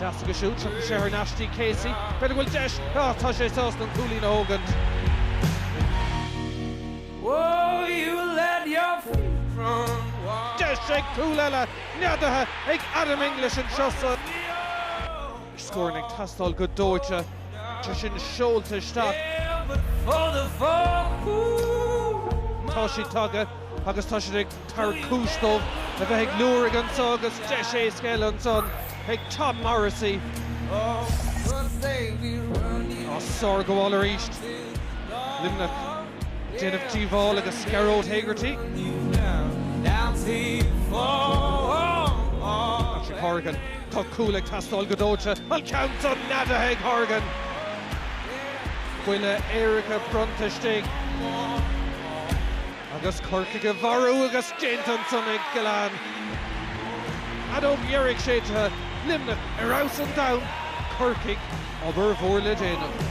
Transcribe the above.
Teastaigh siúd, tiocfaidh sé thar n-ais dtí Casey. B'fhéidir go bhfuil deis. Ah, tá sé sásta an cúilín a thógaint. Deis ag cúl eile. Neadaithe ag Adam English anseo sa. Scóranna ag teastáil go dóite. Tá sé seolta isteach. Tá siad tagtha agus tá siad ag. Tabhairt cúis dóibh a bheith ag liúirigh anso agus deis éasca eile ansan ag Tom Morrissey á sárghabháil arís. Luimneach ag déanamh díobhála agus Gearóid Hegarty, Patrick Horgan, tá cúl ag teastáil go dóite, an ceann san neadaithe ag Horgan. Buille éirice bronnta istigh. Agus Corcaigh a mharú agus déanta ansan ag Gillane. Fheadóg dheiridh séidte, Luimneach ar fheabhas an domhain, Corcaigh, obair mhór le déanamh.